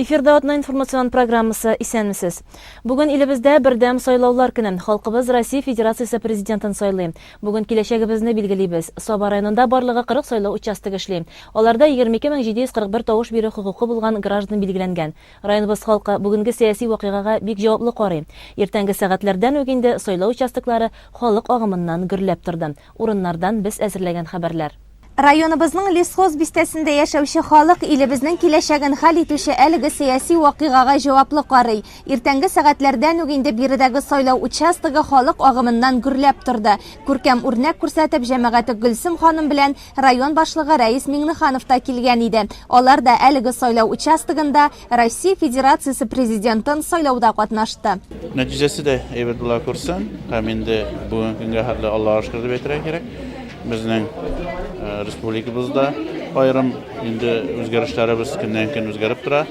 Эфирда атна информацион программасы Исәнмесез! Бүген илебездә бердәм сайлаулар көне. Халкыбыз Россия Федерациясе Президентын сайлый. Бүген киләчәгебезне билгелибез. Саба районында барлыгы 40 сайлау участогы эшли. Аларда 22 мең 741 тавыш бирү хокукы булган граждан билгеләнгән. Районыбыз халкы бүгенге сәяси вакыйгага бик җаваплы карый. Иртәнге сәгатьләрдән үк инде сайлау участоклары халык агымыннан гөрләп торды. Урыннардан без әзерләгән хәбәрләр. Районыбызның Лесхоз бистәсендә яшәүче халык илебезнең киләчәген хәл итүче әлеге сәяси вакыйгага җаваплы карый. Иртәнге сәгатьләрдән үк инде биредәге сайлау участогы халык агымыннан гөрләп торды. Күркәм үрнәк күрсәтеп, җәмәгате Гөлсем ханым белән район башлыгы Рәис Миңнеханов та килгән иде. Алар да әлеге сайлау участогында Россия Федерациясе президентын сайлауда катнашты. Нәтиҗәсе дә әйбәт була күрсен. Һәм инде бүгенге көнгә хәтле Аллаһыга шөкер дип әйтергә кирәк. Безнең э, республикабызда аерым инде үзгәрешләребез көннән-көн үзгәреп тора.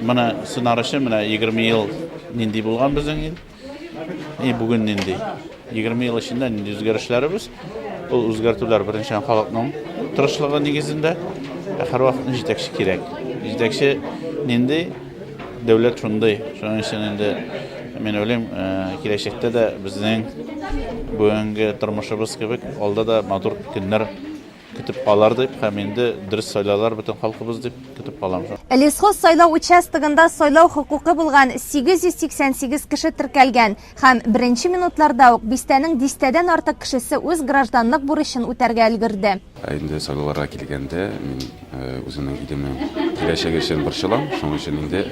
Менә сынар өчен менә 20 ел нинди булган безнең ил. И бүген нинди? 20 ел эчендә нинди үзгәрешләребез? Ул үзгәртүләр беренче халыкның тырышлыгы нигезендә, ә һәрвакытны җитәкче кирәк. Җитәкче нинди? Дәүләт шундый. Шуның өчен инде мин уйлыйм, э, киләчәктә дә безнең бүгенге тормышыбыз кебек алда да матур көннәр Көтеп калар дип һәм инде дөрес сайлалар бөтен халкыбыз дип көтеп калам. Лесхоз сайлау участогында сайлау хокукы булган 888 кеше теркәлгән һәм беренче минутларда ук бистәнең дистәдән артык кешесе үз гражданлык бурычын үтәргә өлгерде. Ә инде сайлауларга килгәндә, мин үземнең илемнең киләчәге өчен борчылам, шуның өчен инде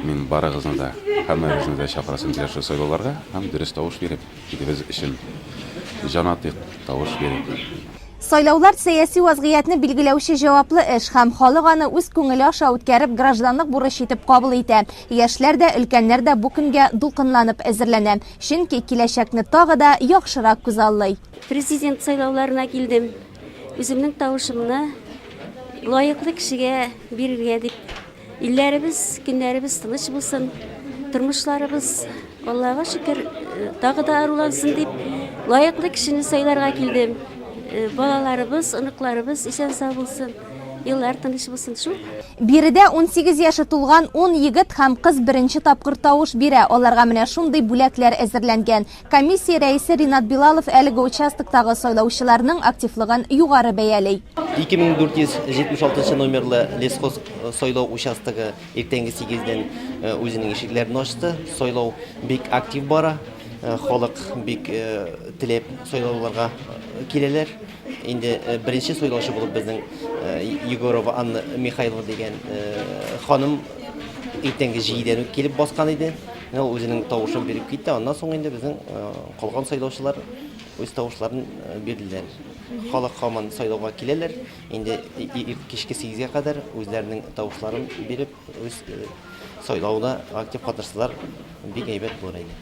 мин барыгызны да, һәммәгезне дә чакырасым килә шул сайлауларга һәм дөрес тавыш биреп. илебез өчен җан атыйк, тавыш бирик! Сайлаулар сәяси вазгыятьне билгеләүче җаваплы эш һәм халык аны үз күңеле аша үткәреп, гражданлык бурычы итеп кабул итә. Яшьләр дә, өлкәннәр дә бу көнгә дулкынланып әзерләнә, чөнки киләчәкне тагы да яхшырак күзаллый. Президент сайлауларына килдем, үземнең тавышымны лаеклы кешегә бирергә дип. Илләребез, көннәребез тыныч булсын, тормышларыбыз, Аллага шөкер, тагы да арулансын дип, лаеклы кешене сайларга килдем. Э, балаларыбыз, оныкларыбыз исән сау булсын, еллар тыныч булсын шул. Биредә 18 яше тулган 10 егет һәм кыз беренче тапкыр тавыш бирә. Аларга менә шундый бүләкләр әзерләнгән. Комиссия рәисе Ринат Билалов әлеге участоктагы сайлаучыларның активлыгын югары бәяли. 2476 номерлы лесхоз э, сайлау участогы иртәнге 8-дән э, үзенең ишекләрен ачты. Сайлау бик актив бара. Э, халык бик теләп сайлауларга киләләр. Инде беренче сайлаучы булып безнең Егорова Анна Михайлова дигән ханым иртәнге 7-дән үк килеп баскан иде. Ул үзенең тавышын биреп китте, аннан соң инде безнең калган сайлаучылар үз тавышларын бирделәр. Халык һаман сайлауга киләләр, инде кичке сигезгә кадәр үзләренең тавышларын биреп, үз сайлауда актив катнашсалар, бик әйбәт булыр иде.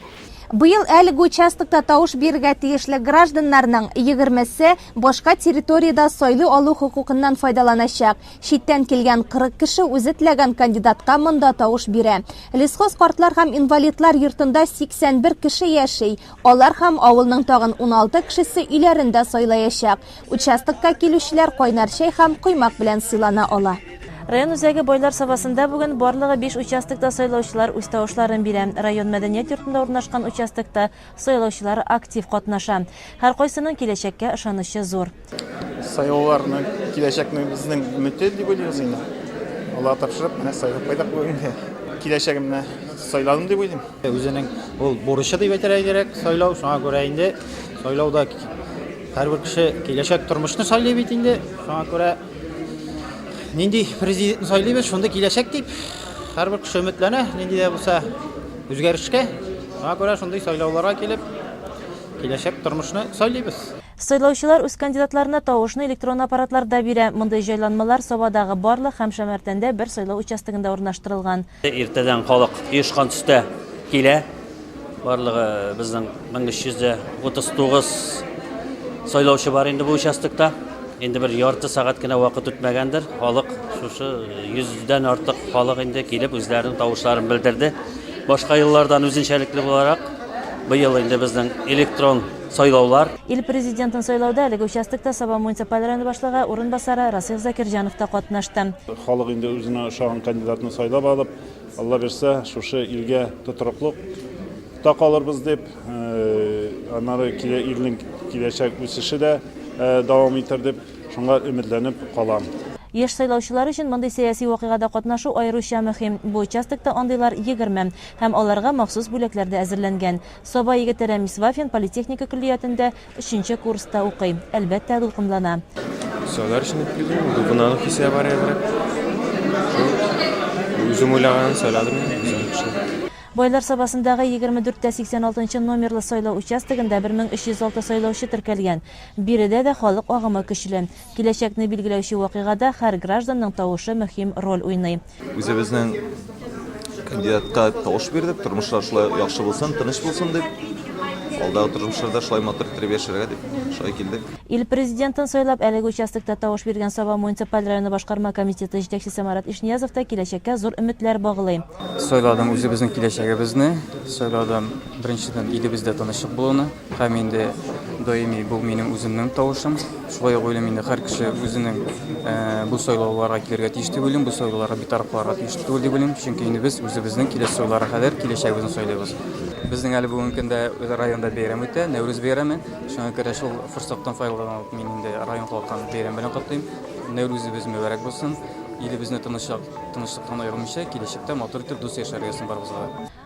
Быел әлеге участокта тавыш бирергә тиешле гражданнарның егермесе башка территориядә сайлый алу хокукыннан файдаланачак. Читтән килгән 40 кеше үзе теләгән кандидатка монда тавыш бирә. Лесхоз картлар һәм инвалидлар йортында 81 кеше яши. Алар һәм авылның тагын 16 кешесе өйләрен дә сайлаячак. Участокка килүчеләр кайнар чәй һәм коймак белән сыйлана ала. Район үзәге Байлар Сабасында бүген барлыгы биш участокта сайлаучылар үз тавышларын бирә. Район мәдәният йортында урнашкан участокта Сайлаучылар актив катнаша. Һәркайсының киләчәккә ышанычы зур. Сайлауларны киләчәкне безнең өмете дип уйлыйбыз инде. Аллага тапшырып, менә сайлап кайдык бүген. Киләчәгемне сайладым дип уйлыйм. Үзенең ул бурычы дип әйтергә кирәк сайлау. Шуңа күрә инде сайлауда һәрбер кеше киләчәк тормышны сайлый бит инде. Шуңа күрә Нинди президентны сайлыйбыз, шундый киләчәк дип, һәрбер кеше өметләнә, нинди дә булса үзгәрешкә. Шуңа күрә шундый сайлауларга килеп, киләчәк тормышны сайлыйбыз. Сайлаучылар үз кандидатларына тавышны электрон аппаратларда бирә. Мондый җайланмалар Сабадагы барлык һәм Шәмәртәндә бер сайлау участогында урнаштырылган. Иртәдән халык оешкан төстә килә. Барлыгы безнең 1339 сайлаучы бар инде бу участокта. Инде бер ярты сәгать кенә вакыт үтмәгәндер, халык шушы 100дән артык халык инде килеп үзләренең тавышларын белдерде. Башка еллардан үзенчәлекле буларак, быел инде безнең электрон сайлаулар. Ил Президентын сайлауда әлеге участокта Саба муниципаль районы башлыгы урынбасары Расыйх Закирҗанов та катнашты. Халык инде үзенә ошаган кандидатны сайлап алып, Алла бирсә, шушы илгә тотрыклык та калырбыз дип, аннары илнең киләчәк үсеше дә дәвам итәр дип, шуңа өметләнеп калам. Яшь сайлаучылар өчен мондый сәяси вакыйгада катнашу аеруча мөһим. Бу участокта андыйлар егерме һәм аларга махсус бүләкләр дә әзерләнгән. Саба егете Рәмис Вафин политехника көллиятендә өченче курста укый. Әлбәттә, дулкынлана. Сайлар өчен дип килдем, дулкынлану хисе бар әзрәк. Шул үзем уйлаганын сайладым. Байлар Сабасындагы 24 тә 86 нчы номерлы сайлау участогында 1306 сайлаучы теркәлгән. Биредә дә халык агымы көчле. Киләчәкне билгеләүче вакыйгада һәр гражданның тавышы мөһим роль уйный. Үзебезнең кандидатка тавыш бирдек, тормышлар шулай яхшы булсын, тыныч булсын дип, алдагы тормышларда шулай матур иттереп яшәргә дип, шулай килдек. Ил Президентын сайлап, әлеге участокта тавыш биргән Саба муниципаль районы башкарма комитеты җитәкчесе Марат Ишниязов та киләчәккә зур өметләр баглый. Сайладым үзебезнең киләчәгебезне, сайладым, беренчедән, илебездә тынычлык булуны. Һәм инде даими бу минем үземнең тавышым. Шулай ук уйлыйм инде һәр кеше үзенең бу сайлауларга килергә тиеш дип уйлыйм, бу сайлауларга битараф калырга тиеш түгел дип уйлыйм, чөнки инде без үзебезнең киләсе сайлауларга кадәр киләчәгебезне сайлыйбыз. Безнең әле бүгенге көндә районда бәйрәм үтә, Нәүрүз бәйрәме. Шуңа күрә шул форсаттан файдаланып мин инде район халкын бәйрәм белән котлыйм. Нәүрүзебез мөбарәк булсын. Илебезне тынычлыктан аермыйча, киләчәктә матур итеп дус яшәргә язсын барыбызга да.